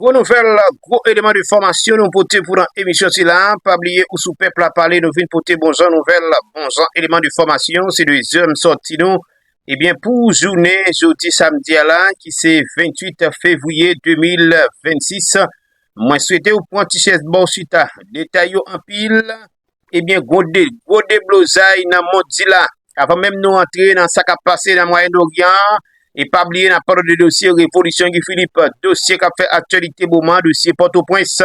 Gwo nouvèl, gwo eleman de fòmasyon nou pote pou nan emisyon si la, pa bliye ou sou pèp la pale nou vin pote bon jan nouvèl, bon jan eleman de fòmasyon, se dezyèm sòti nou, ebyen eh pou jounen jodi samdi a la ki se 28 fevriye 2026, mwen swete ou pran ti chèz baw chita, detay yo anpil. Ebyen gwo deblozay nan mond di la. Avan menm nou antre nan sa kap pase nan Mwayen Oryan an, e pa bliye n ap pale de dosye revolisyon Guy Philippe, dosye kap fè aktyalite moman, dosye Pòtoprens.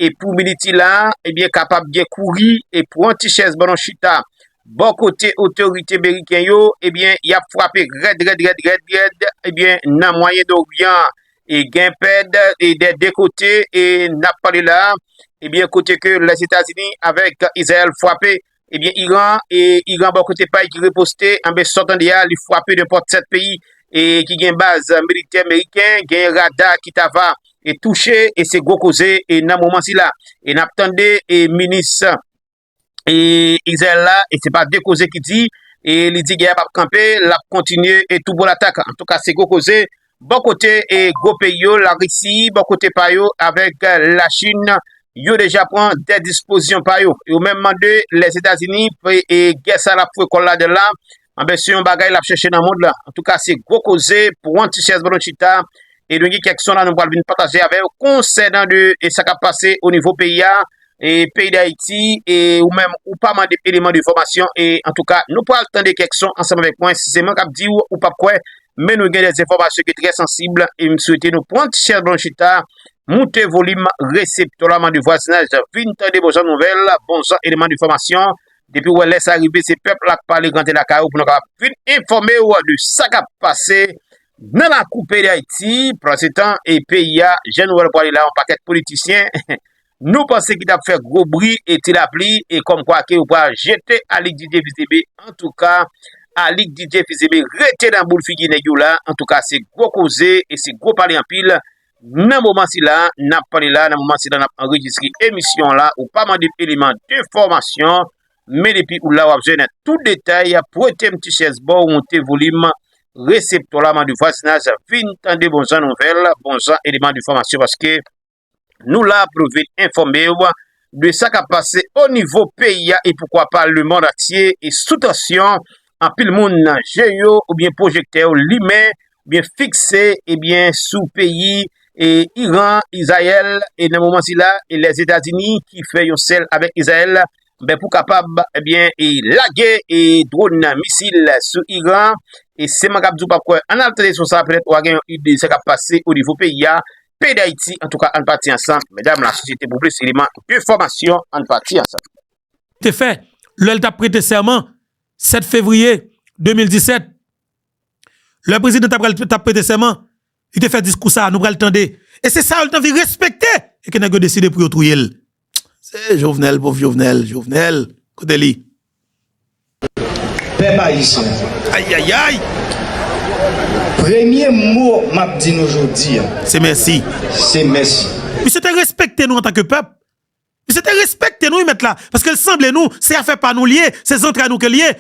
E pou Militi la, ebyen kapab gen kouri e pran ti chèz ban nou chita. Bò kote otorite meriken yo, ebyen y ap frape rèd rèd rèd rèd rèd ebyen nan Mwayen Oryan an. e gen pèd e dè de kote e nap pale la ebyen kote ke lèzetazini avèk izrayèl fwape ebyen iran e iran bò kote pay ki reposte anbe sò tande a li fwape de pòt 7 peyi e ki gen baz militè meriken gen rada ki tava e touche e se gwo koze e nan moman sila e nap tande e minis e Izrayèl la e se pa de koze ki di e li di gè a pap kanpe lap kontinye e tou bon latak an tou ka se gwo koze bon kote e gwo peyi yo la risi bon kote pa yo avèk la chinn yo deja pran de dispozyon pa yo yo menm mande lèzetazini e gè sa lap fwe kòl la de la Anben se yon bagay lap chèche nan mond lan. Antouka se gwo koze pou Juan Tichez Bolochita e nou gen kèk son la nou pral vin pataje avè w konsènan de e sa kap pase o nivo peyi a e peyi Dayiti e ou menm ou pa mande eleman de fòmasyon e antouka nou pral tande kèk son ansanm avèk mwen si se mwen kap di w ou pap kwè men nou gen de enfòmasyon ki trè sansib e m swete nou Juan Tichez Bolochita moute volim reseptò la mande vwazinaj vin tande bon jan nouvèl bon jan eleman de fòmasyon Depiw wè lè sa rive se pèp la k pale rante lakay ou pou nou kapab vin enfòmew de sa kap pase nan lakou peyi dayiti pansetan peyi a jan nou wèl pwale la yon pakèt politisyen nou panse ki tap fè gwo bri e ti lapli e kòm kwa ke yo pral jete Alix Didier fils Aimé antouka Alix Didier fils Aimé rete nan boul figi nèg yo la antouka se gwo koze e se gwo pale anpil Nan moman sila n ap pale la, nan moman sila n ap anrejistre emisyon la, ou pa mande m eleman de fòmasyon, men depi ou la w ap jwenn tout detay, prete m ti chèz ba w, moute volim reseptò la, mande vwazinaj vin tande bon jan nouvèl, bon jan eleman de fòmasyon paske nou la pou nou vin enfòme w de sa kap pase o nivo peyi a e poukwa pa le mond antye e sou tansyon, anpil moun nan je yo oubyen pwojektè yo limen oubyen fikse ebyen sou peyi e Iran, Izayèl e nan moman sila e Lèzetazini ki fè yon sèl avèk Izayèl ben pou kapab ebyen e lage e dwon nan misil sou Iran e seman kap di w pap kwè ann al tande son sa petèt wa gen yon ide sa kap pase o nivo peyi a Peyi Dayiti antouka ann pati ansanm medam la sosyete pou plis eleman de fòmasyon ann pati ansanm. te fè lè l t ap prete sèman 7 fevriye 2017. Lè prezidan t apral t ap prete sèman, li te fè diskou sa a nou pral tande e se sa yo li t anvi respekte e ke nèg yo deside pou yo touye l. Se Jovenel, pov Jovenel, Jovenel kote li? Pèp Ayisyen, Ayayayy! Premye mo m ap di nou jodi a. Se mèsi. Se mèsi. Misye te respekte nou antanke pèp. Misye te respekte nou wi mèt la. Paske l sanble nou, se afè pa nou li ye, se zantray nou ke li ye.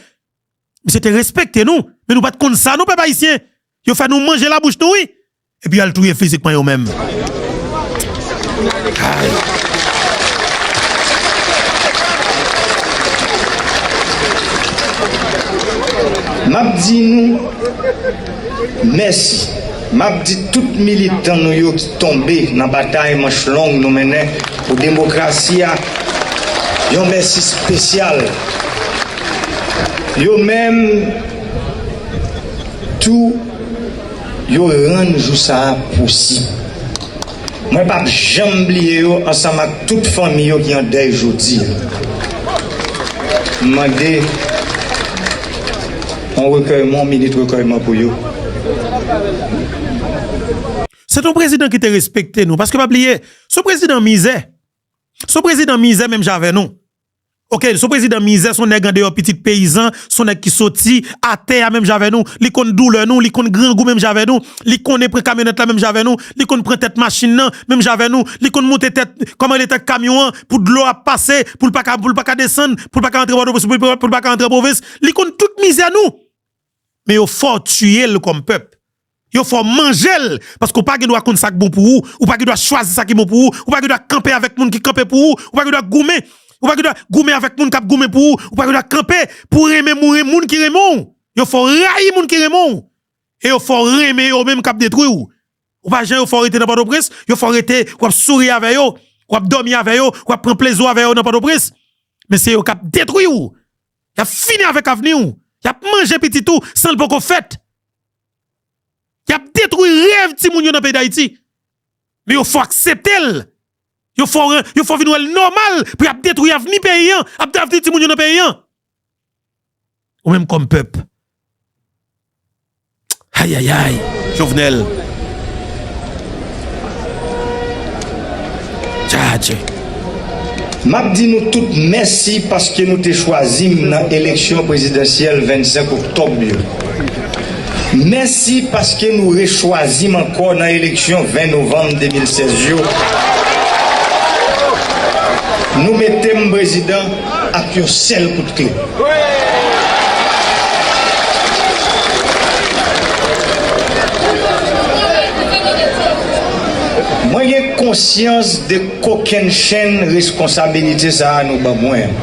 Misye te respekte nou. Men nou pa t konn sa non pèp Ayisyen. Yo fè nou manje labouch nou wi. Epi yal touye fizikman yo menm. Map di nou mèsi. Map di tout militan nou yo ki tonbe nan batay manch long nou mennen pou demokrasi a yon mèsi spesyal. Yo menm tou. Yo rann jou sa a posib. Mwen pap janm bliye yo ansanm ak tout fanmi yo ki an dèy jodi a. M mande yon rekèyman, yon minit rekèyman pou yo. Se t yon prezidan ki te respekte nou. Paske pa bliye, se yon prezidan mizè. Se yon prezidan mizè menm jan avè nou. Ok son prezidan mizè son nèg andeyò pitit peyizan son nèg ki soti atè a menm jan avè nou li konn doulè nou li konn grangou menm jan avè nou li konnen pran kamyonèt la menm jan avè nou li konn pran tèt machin nan menm jan avè nou li konn moute tèt kòman rele tèt kamyon an pou dlo a pase pou l pa ka pou l pa ka desann pou l pa ka antre pòtoprens pou l pa ka antre pwovens li konn tout mizè nou. men yo fè w tiye l kòm pèp. Yo fè w manje l, paske w pa gen dwa konn sa k bon pou ou, ou pa gen dwa chwazi sa ki bon pou ou, ou pa gen dwa kanpe avèk moun ki kanpe pou ou, ou pa gen dwa goumen, ou pa gen dwa goumen avèk moun k ap goumen pou ou, ou pa gen dwa kanpe pou w renmen moun ki renmen w. Yo fè w rayi moun ki renmen w e yo fè w renmen yo menm k ap detwi w. Ou pa jan yo fè w rete nan Pòtoprens, yo fè w rete, w ap souri avè yo, w ap dòmi avè yo, w ap pran plezi w avè yo nan Pòtoprens, men se yo k ap detwi w Y ap fini avèk avni w, y ap manje pitit ou san l poko fèt. Y ap detwi rèv timoun yo nan peyi Dayiti. Men yo fò aksepte l, yo fò vin wè l nòmal pou y ap detwi avni peyi an, avni timoun yo nan peyi an. Ou menm kòm pèp. Ayayay jovenel Jadje. Map di nou tout mèsi paske nou te chwazi m nan eleksyon prezidansyèl 25 oktòb yo. Mèsi paske nou rechwazi m ankò nan eleksyon 20 novanm 2016 yo. Nou mete m prezidan. ak yon sèl kout kle. Mwen gen konsyans de kokenn chenn reskonsabilite sa a nou ban mwen an.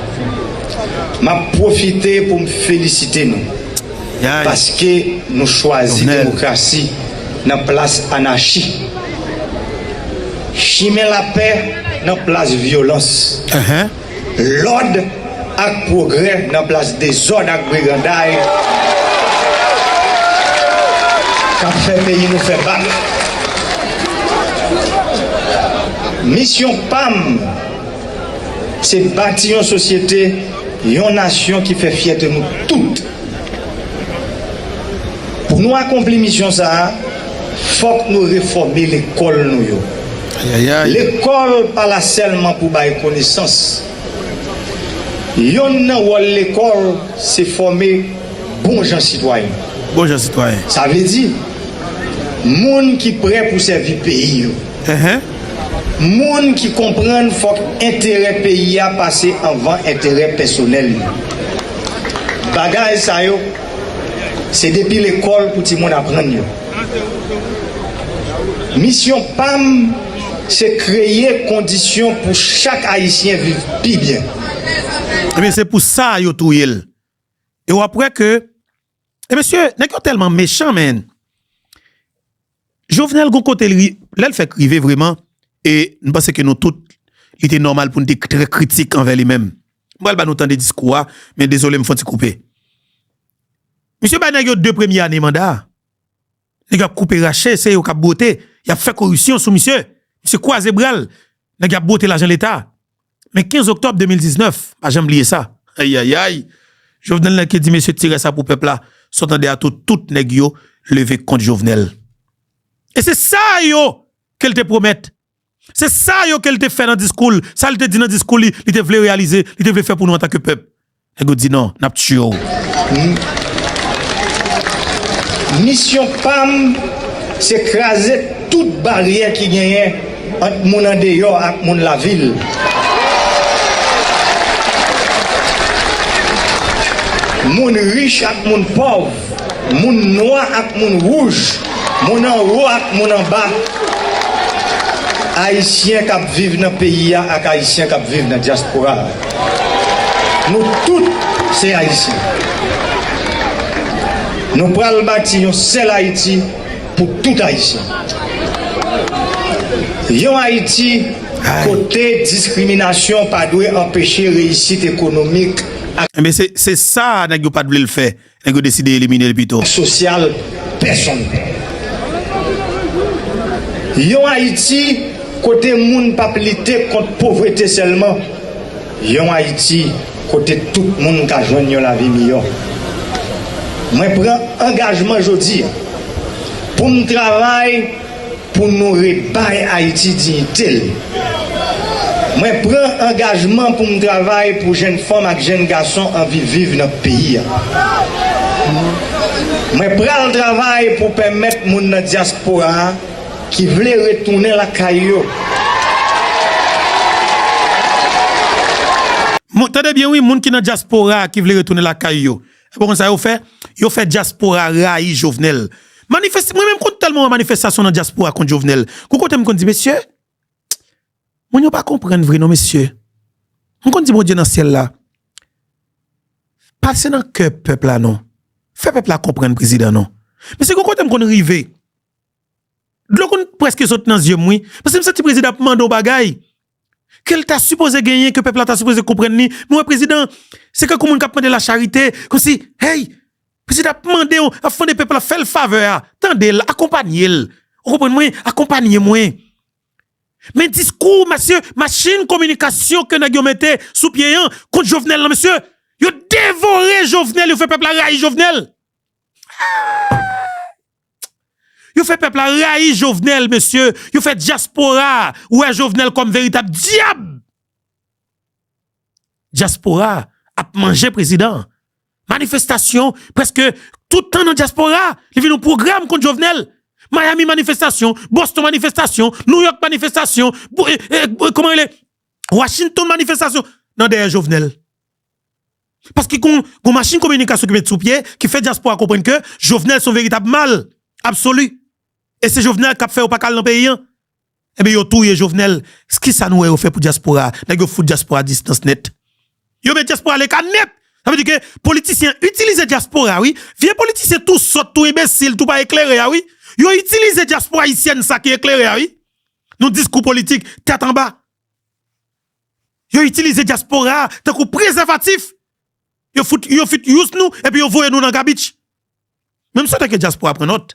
M ap pwofite pou m felisite nou paske nou chwazi demokrasi nan plas anachi, chimen lapè nan plas vyolans. Lòd ak pwogrè nan plas dezòd ak briganday k ap fè peyi nou fè bak. Misyon pa m se bati yon sosyete, yon nasyon ki fè fyète nou tout. Pou nou akonpli misyon sa a, fòk nou refòme lekòl nou yo. Ayayay! Lekòl pa la sèlman pou bay konesans. Yonn nan wòl lekòl se fòme bon jan sitwayen. Bon jan sitwayen. Sa vle di, moun ki prè pou sèvi peyi yo. Enhen. Moun ki konprann fòk enterè peyi a pase anvan enterè pèsonèl yo. Bagay sa yo, se depi lekòl pou timoun aprann yo. Misyon pa m se kreye kondisyon pou chak Ayisyen viv pi byen. Ebyen se pou sa yo touye l. E wap wè ke e mesye nèg yo tèlman mechan menn. Jovenel gon kote li lè l fèk rive vreman e m panse ke nou tout li te nòmal pou nou te trè kritik anvè li menm. M pral ba nou tande diskou a men dezole m fon ti koupe. Misye bay nèg yo 2 premye ane manda. Nèg yo ap koupe rache, se yo kap bwote, yap fè koripsyon sou misye. Misye kwaze bral, nèg yo ap bwote lajan leta. Men 15 oktòb 2019, pa janm bliye sa. Ayayay! Jovenel nèg ki di mesye tire sa pou pèp la, sa w tande a tou tout nèg yo leve kont Jovenel. E se sa yo ke l te pwomèt Se sa yo ke l te fè nan diskou l, sa l te di nan diskou li, li te vle reyalize, li te vle fè pou nou antanke pèp. Nèg yo di non, n ap tiye w. Misyon pa m, se kraze tout baryè ki genyen ant moun andeyò ak moun lavil. Moun rich ak moun pòv. Moun nwa ak moun wouj, moun anwo ak moun anba, Ayisyen k ap viv nan peyi a ak Ayisyen k ap viv nan dyaspora a, nou tout se Ayisyen. Nou pral bati yon sèl Ayiti pou tout Ayisyen. Yon Ayiti kote diskriminasyon pa dwe anpeche reyisit ekonomik ak. Enben se sa nèg yo pat vle l fè. Nèg yo deside eliminel pito. Sosyal pèsonn pè. Yon Ayiti kote moun pa p lite kont povrete sèlman, yon Ayiti kote tout moun ka jwenn yon lavi miyò. Mwen pran angajman jodi a pou m travay. Pou nou rebay Ayiti diyite l. Mwen pran angajman pou m travay pou jenn fanm ak jenn gason anvi viv nan peyi a. Mwen pral travay pou pèmèt moun nan dyaspora a ki vle retounen lakay yo. Tande byen wi, moun ki nan dyaspora a ki vle retounen lakay yo. Epi ou konn sa yo fè? Yo fè dyaspora rayi Jovenel. Manifes, mwen menm konn tèlman wè manifestasyon nan dyaspora kont Jovenel, gon kote m konn di mesye, moun yo pa konprann vre non mesye. M konn di Bondye nan syèl la, pase nan kè pèp la non, fè pèp la konprann prezidan non. Mesye gon kote m konn rive, dlo konn prèske sot nan zye m wi, paske m santi prezidan ap mande yon bagay, ke l ta sipoze genyen, ke pèp la ta sipoze konprann li, nou wè prezidan se kankou moun k ap mande la charite, kòmsi hey, prezidan ap mande yon, ap mande pèp la fè l favè a, tande l, akonpanye l, ou konprann mwen, akonpanye mwen. Men diskou mesye, machin kominikasyon ke nèg yo mete sou pye an kont Jovenel lan mesye, yo devore Jovenel, yo fè pèp la rayi Jovenel. Aah! Yo fè pèp la rayi Jovenel mesye, yo fè dyaspora wè Jovenel kòm veritab dyab. Dyaspora ap manje prezidan an. Manifestasyon preske toutan nan dyaspora, li vin yon pwogram kont Jovenel. Miami manifestasyon, Boston manifestasyon, New York manifestasyon, Washington manifestasyon nan dèyè Jovenel. Paske gon machin kominikasyon ki met sou pye ki fè dyaspora konprann ke Jovenel son veritab mal absoli. E se Jovenel kap fè yo pa ka al nan peyi an. Ebyen yo touye Jovenel, kisa nou wè yo fè pou dyaspora? Nèg yo fout dyaspora a distans nèt. Yo met dyaspora aleka nèt. Sa vle di ke politisyen an itilize dyaspora wi. Vye politisyen tou sòt, tou enbesil, tou pa eklere a wi. Yo itilize dyaspora ayisyèn sa ki eklere a wi. Nan diskou politik tèt anba. Yo itilize dyaspora a tankou prezèvatif. Yo fout yo fout use nou epi yo voye nou nan gabich. Men m swete ke dyaspora pran nòt.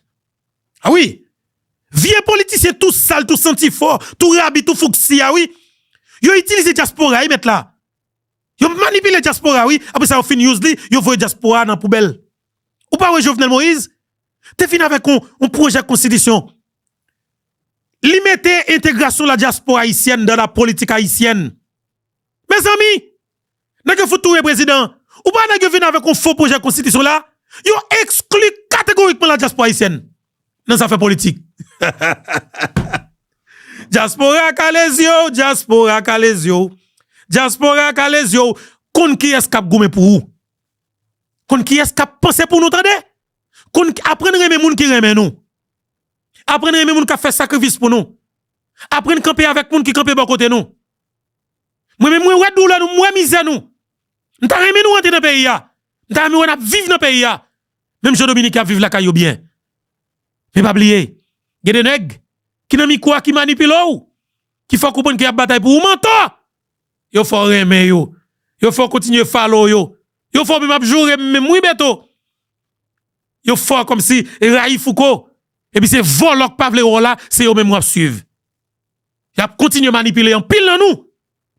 A wi! Vye politisyen tou sal, tou santi fò, tou rabi, tou fouksti a wi. Yo itilize dyaspora wi mèt la. Yo manipile dyaspora wi. Apre sa yo fin use li, yo voye dyaspora a nan poubèl. Ou pa wè Jovenel Moïse te fin avèk yon pwojè konstitisyon. Li mete entegrasyon la diaspora ayisyèn dan la politik ayisyèn. Mezanmi! Nèg yo fout touye prezidan. Ou pa wè nèg yo vin avèk yon fo pwojè konstitisyon la? Yo ekskli kategorikman la diaspora ayisyèn nan zafè politik. Diaspora kale zye w, diaspora kale zye w, diaspora kale zye w. Konn kiyès kap goumen pou ou. Konn kiyès kap panse pou nou tande. Konn aprann renmen moun ki renmen nou. Aprann renmen moun k ap fè sakrifis pou nou. Aprann kanpe avèk moun ki kanpe bò kote nou. Mwen menm mwen wè doulè nou, m wè mizè nou. M ta renmen nou rantre nan peyi a. M ta renmen wè n ap viv nan peyi a. Menm jan dominiken ap viv lakay yo byen. Men pa bliye, gen de nèg ki nan mikwo a ki manipile w, ki fè w konprann ke y ap batay pou ou. Mantò! Yo fè w renmen yo. Yo fè w kontinye follow yo. Yo fè w menm ap joure m menm wi Beto. yo fò kòmsi rayi fouco epi se vòlò k pa vle wè w la se yo menm wap swiv yap kontinye manipile anpil nan nou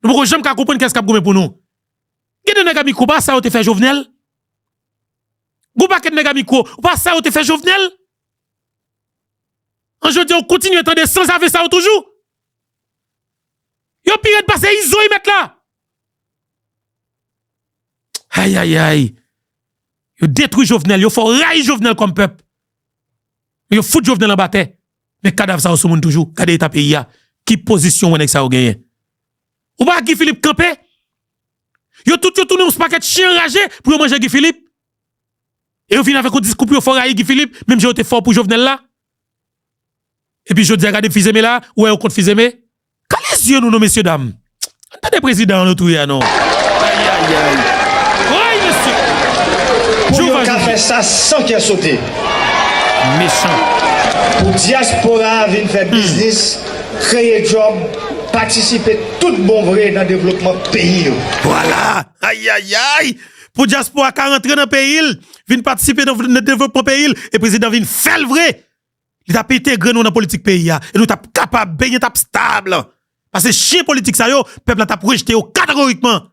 nou poko janm ka konprann kiyès kap goumen pou nou gen de nèg a mikro pa sa yo te fè jovenel gon pakèt nèg a mikro pa sa yo te fè jovenel an jodi an w kontinye tande sanzave sa yo toujou yo pi rèd pase izo y mèt la ayayayy. Yo detwi jovenel yo fò rayi jovenel kòm pèp men yo fout jovenel anba tè men kadav sa yo sou moun toujou gade eta peyi a ki pozisyon wè nèg sa yo genyen ou pa wè guy philippe kanpe yo tout yo tounen yon pakèt chyen anraje pou yo manje guy philippe e yo vin avèk yon diskou pou yo fò rayi guy philippe menm jan yo te fò pou jovenel la epi jodia gade fizeme la ou wè yo kont fizeme Kale zye nou non mesye dam. An tande prezidan an nou touye a non. Ayayayy. Woy mesye. Pou yo ka fè sa san kè sote. Mechan. Pou dyaspora a vin fè biznis, kreye djòb, patisipe tout bon vre nan devlopman peyi yo. Vwala. Ayayayy. Pou dyaspora ka rantre nan peyi l, vin patisipe nan devlopman peyi l, e prezidan vin fè l vre. li tap entegre nou nan politik peyi a, e nou tap kapab, peyi an tap stab, pase chyen politik sa yo, pèp la tap rejte yo kategorikman.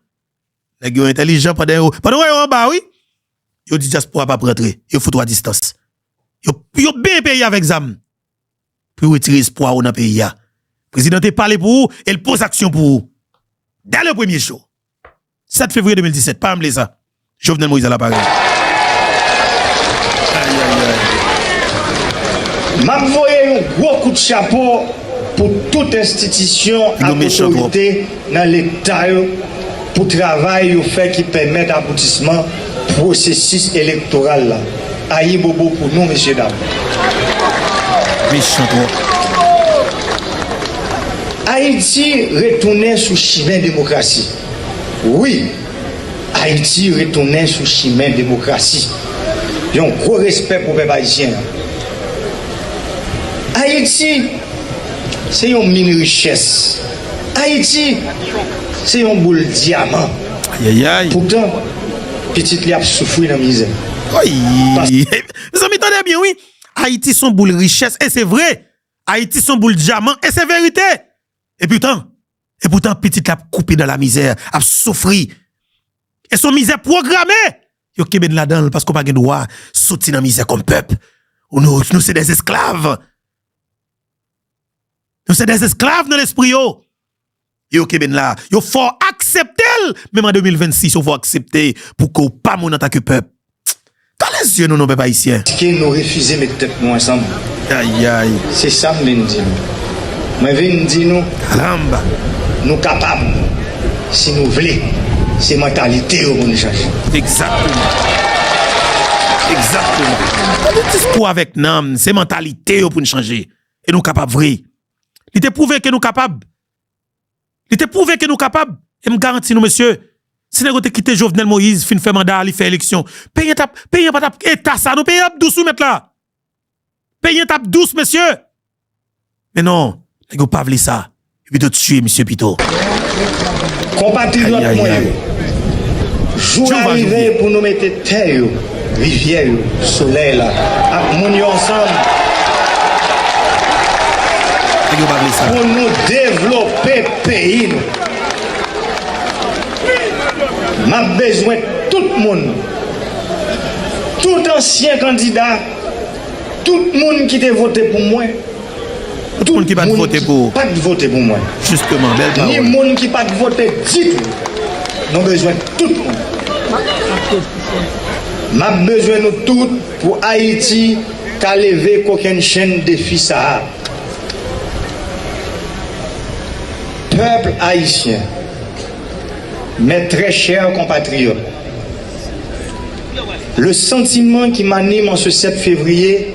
Nèg yo entèlijan pandan yo, pandan w wè yo anba wi, yo di dyaspora pa rantre, yo fout ou a distans. Yo, yo benyen peyi a avèk zam, pou yo retire espwa ou nan peyi a. Prezidan te pale pou ou, e l poze aksyon pou ou, dè le premye jou. 7 fevriye 2017 pa ranble sa Jovenel Moïse ala parèy. Map voye yon gwo kout chapo pou tout enstitisyon ak otorite nan leta yo pou travay yo fè ki pèmèt aboutisman pwosesis elektoral la. Ayibobo pou nou mesye dam. Ayiti retounen sou chimen demokrasi. Wi! Ayiti retounen sou chimen demokrasi. Yon gwo respè pou pèp ayisyen an. Ayiti se yon min richès. Ayiti se yon boul dyaman. Poutan, pitit li ap soufri nan mizè. Mezanmi tande byen wi! Ayiti se yon boul richès, e se vre! Ayiti se yon boul dyaman, e se verite! Epoutan, E poutan pitit la ap koupe dan la mizè, ap soufri. E son mizè pwograme! Yo kenbe n ladan l paske w pa gen dwa soti nan mizè kòm pèp. Ou nou, nou se dè esklav. Nou se dè esklav nan lespri yo. E yo kenbe n la. Yo fè w aksepte l, menm an 2026 yo fè w aksepte pou ke w pa moun antanke pèp. Tande zye nou non pèp ayisyen. Ske nou refize met tèt nou ansanm. Ayayy. Se sam vin di nou. Mwen vin di nou. Caramba. Nou kapab si nou vle. Se mantalite yo pou nou chanje. Exactement. Exactement. Tande diskou avèk nanm. Se mantalite yo pou nou chanje. E nou kapab vre. Li te pwouve ke nou kapab. Li te pwouve ke nou kapab, e m garanti nou mesye, si nèg yo te kite Jovenel Moïse fin fè manda a li fè eleksyon, peyi an tap, peyi an pa tap eta sa non, peyi an ap dous wi mèt la. Peyi an tap dous mesye. Men non, nèg yo pa vle sa, yo pito tiye misye pito. Konpatriyòt mwen yo, jou a rive pou nou mete tè yo. Rivyè yo, solèy la, ak moun yo ansanm pou nou devlope peyi nou. M ap bezwen tout moun, tout ansyen kandida, tout moun ki te vote pou mwen. Moun ki pat vote pou ou. Pat vote pou mwen. Justement, bèl pawòl. Ni moun ki pat vote ditou. Nou bezwen tout moun. Map bezwen nou tout pou Ayiti ka leve kokenn chenn defi sa a. Peuple Haïtien, Mes très chers compatriotes, Le sentiment qui m'anime en ce 7 février,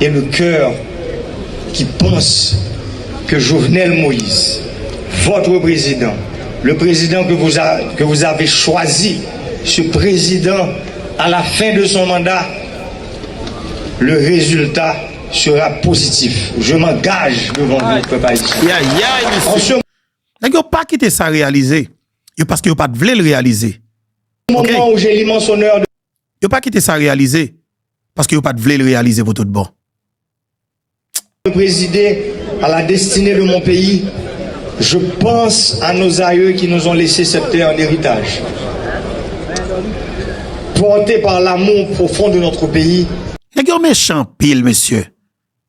Et le coeur qui pense que Jovenel Moïse votre président le président que vous a que vous avez choisi ce président à la fin de son mandat le résultat sera positif je m'engage devant vous peuple haïtien. Nèg yo pa kite sa reyalize yo paske yo pat vle l reyalize ok. Yo pa kite sa reyalize paske yo pat vle l reyalize pou tout bon. Mwen prezide a la destine de mon peyi, je panse a nos aïeux qui nous ont laissé cette terre en héritage. Porte par l'amour profond de notre pays, Nèg yo mechan anpil mesye.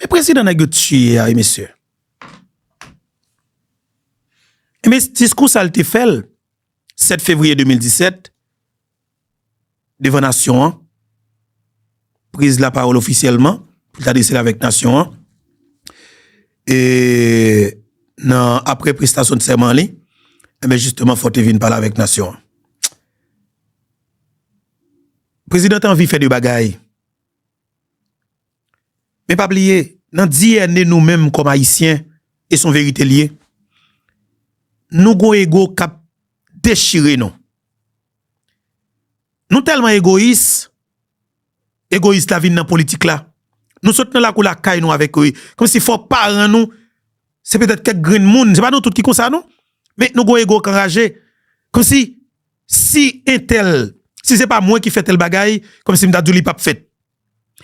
Men prezidan nèg yo tiye a wi mesye. Enben diskou sa l te fè l 7 fevriye 2017 devan nasyon an, priz lapawòl ofisyèlman pou l te adrese l avèk nasyon an e nan apre prestasyon de sèman li enben jisteman fò l te vin pale avèk nasyon an. Prezidan te anvi fè de bagay. Men pa bliye, nan DNA nou menm kòm Ayisyen, e son verite li ye, nou gon ego k ap dechire nou. Nou tèlman egoyis, egoyis la vin nan politik la. Nou sot nan lakou lakay nou avèk yo, kòm si fò paran nou, se petèt kèk grenn moun, se pa nou tout ki konsa non, men nou gon ego k anraje, kòm si Si entèl, si se pa mwen ki fè tèl bagay, kòm si m ta di w li pap fèt.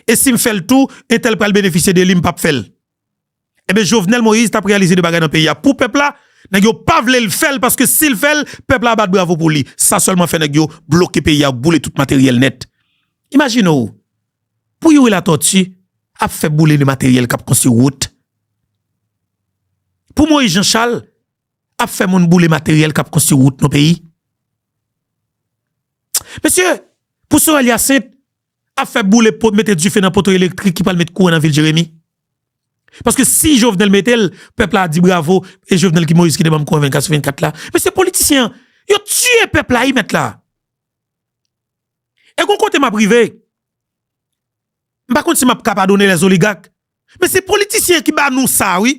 E si m fè l tou, entèl pral benefisye de li, m pap fè l. Enben Jovenel Moïse t ap reyalize de bagay nan peyi a pou pèp la, nèg yo pa vle l fè l paske si l fè l, pèp la ap bat bravo pou li. Sa sèlman fè nèg yo bloke peyi a, yo boule tout materyèl nèt. Imajine w, pou Youri Latortue ap fè boule de materyèl k ap konstwi wout, pou Moïse Jean Charles ap fè moun boule materyèl kap konstwi wout nan peyi. Mesye, pou Sorel Yacinthe ap fè boule pot mete dife nan poto elektrik ki pral met kouran nan vil Jeremi. Paske si Jovenel mete l, pèp la a di bravo, e Jovenel ki Moïse ki te banm kouran 24 sou 24 la. Mesye politisyen an, yo tiye pèp la wi mèt la. E gon kote map rive, m pa konn si map ka padone les oligarques, men se politisyen ki ba nou sa wi.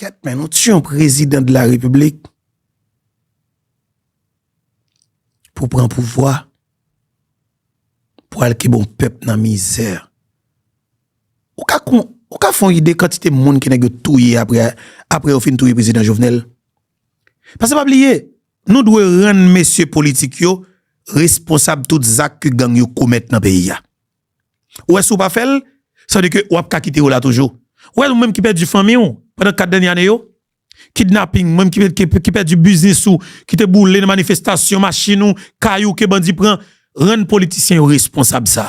Kèt men nou t yon prezidan de la repiblik pou pran pouvwa pou al kibon pèp nan mizè ou ka kon ou ka fon ide kantite moun ki nèg yo touye aprè aprè yo fin touye prezidan jovenel pase pa bliye nou dwe rann mesye politik yo responsab tout zak ke gang yo komèt nan peyi a. Ou wè si ou pa fè l, sa vle di ke wap ka kite yo la toujou. Ou wè ou menm ki pèdi fanmi ou pandan 4 dènye ane yo, kidnaping, ou menm ki pèdi biznis ou ki te boule nan manifestasyon, machin ou, kay ou ke bandi pran, rann politisyen yo responsab sa.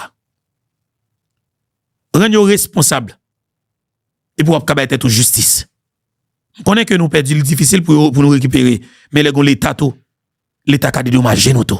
Rann yo responsab. Epi wap ka bay tèt ou jistis. M konnen ke nou pèdi li difisil pou nou rekipere, men lè gon leta tou, leta ka dedomaje nou tou.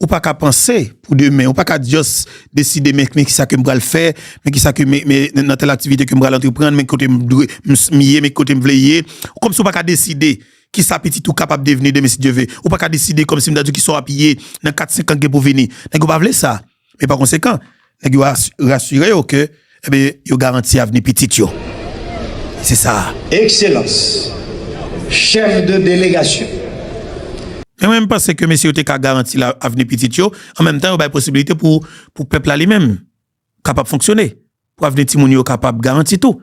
Ou pa ka panse pou demen, ou pa ka just deside men ki sa ke m pral fè, men ki sa ke men nan tèl aktivite ke m pral antreprann, men ki kote m dwe m ye, men ki kote m vle ye. Kòm si ou pa ka deside ki sa pitit ou kapab devni demen si Dye ve. Ou pa ka deside kòm si m ta di w ki sa w ap ye nan kat senk an ki gen pou vini. Nèg yo pa vle sa. Men pa konsekan, Nèg yo rasire yo ke yo garanti avni pitit yo. Se sa a. Ekselans Chèf de Delegasyon. Men mwen panse ke mesye yo te ka garanti avni pitit yo, an menm tan yo bay posibilite pou pèp la li menm kapab fonksyone, pou avni timoun yo kapab garanti tou.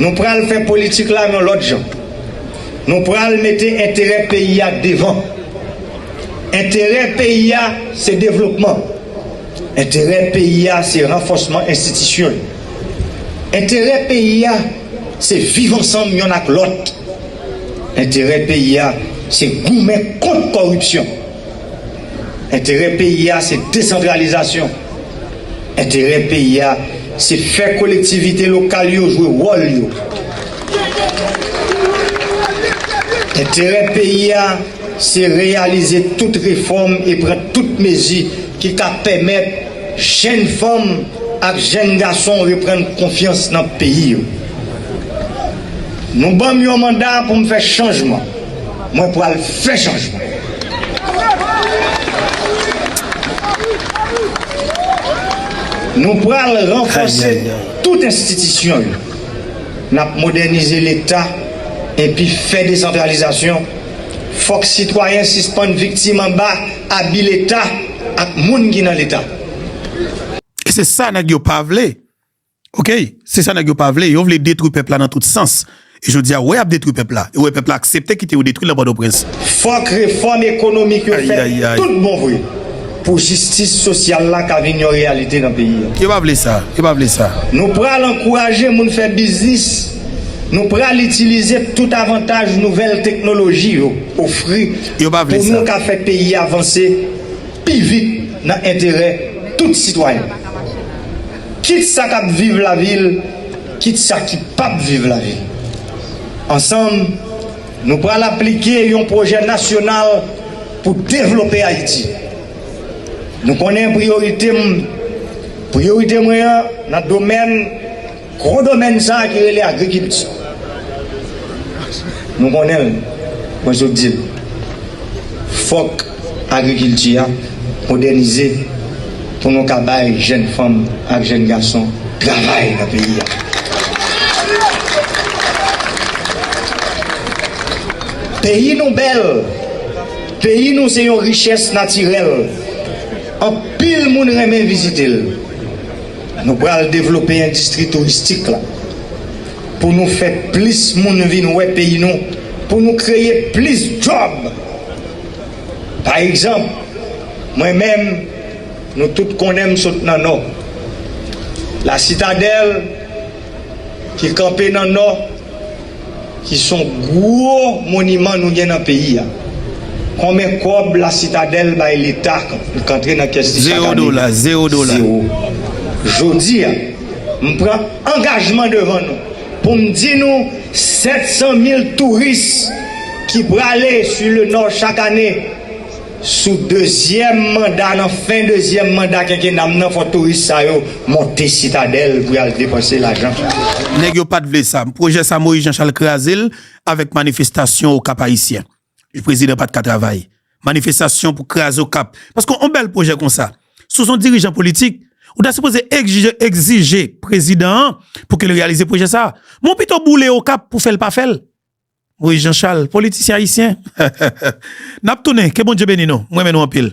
Nou pral fè politik la yon lòt jan. Nou pral mete enterè peyi a devan. Enterè peyi a se devlopman. Enterè peyi a se ranfòsman enstitisyon yo. Enterè peyi a se viv ansanm yonn ak lòt. Enterè peyi a se goumen kont kòripsyon. Enterè peyi a se desantralizasyon. Enterè peyi a se fè kolektivite lokal yo jwe wòl yo. Enterè peyi a se reyalize tout refòm e pran tout mezi ki ka pèmèt jenn fanm ak jenn gason reprann konfyans nan peyi yo. Nou ban m yon manda pou m fè chanjman. Mwen pral fè chanjman. Nou pral ranfòse tout enstitisyon yo. N ap modènize Leta epi fè desantralizasyon. Fòk sitwayen sispann viktim anba abi Leta ak moun ki nan Leta. E se sa nèg yo pa vle. Ok se sa nèg yo pa vle yo vle detwi pèp la nan tout sans e jodi a wè yap detwi pèp la e wè pèp la aksepte kite yo detwi nan pòtoprens. Fòk refòm ekonomik yo fèt tout bon vre pou jistis sosyal la ka vin yon reyalite nan peyi a. Yo pa vle sa, yo pa vle sa. Nou pral ankouraje moun fè biznis, nou pral itilize tout avantaj nouvèl teknoloji yo ofri pou nou ka fè peyi a vanse pi vit nan enterè tout sitwayen. kit sa k ap viv lavil, kit sa ki p ap viv lavil. Ansanm, nou pral aplike yon pwojè nasyonal pou devlope Ayiti. Nou konnen priyorite m, priyorite mwen an nan domèn, gwo domèn sa a ki rele agrikilti. Nou konnen l, mwen sot di l, fòk. agrikilti a modènize pou nou ka bay jèn fanm ak jèn gason travay nan peyi a. Peyi nou bèl, peyi nou se yon richès natirèl, anpil moun renmen vizite l. Nou pral devlope endistri touristik la pou nou fè plis moun vin wè peyi nou, pou nou kreye plis djòb. Pa egzanp, mwen menm, nou tout konnen m sot nan Nò. La Sitadèl, ki kanpe nan Nò, ki s on gwo moniman nou gen nan peyi a. Konben kòb La Sitadèl bay Leta pou k antre nan kès li chak ane? Zewo dola. Zewo. Jodi a, m pran angajman devan nou. Pou m di nou 700 mil touris ki prale su le nò chak ane sou dezyèm manda nan fen dezyèm manda kenkena m nan fò touris sa yo monte sitadèl pou y al depanse lajan. Nèg yo pat vle sa. Pwojè sa Moyiz Janchal kraze l avèk manifestasyon Okap Ayisyen. E prezidan pat ka travay. Manifestasyon pou kraze okap. Paske yon bèl pwojè konsa. Si w son dirijan politik. Ou ta sipoze egzije prezidan an. Pou ke l reyalize pwojè sa. Men w pito boule okap pou fèl pa fèl. Moise Jean Charles politisyen ayisyen. Nap tounen ke Bondye beni nou. M renmen nou anpil.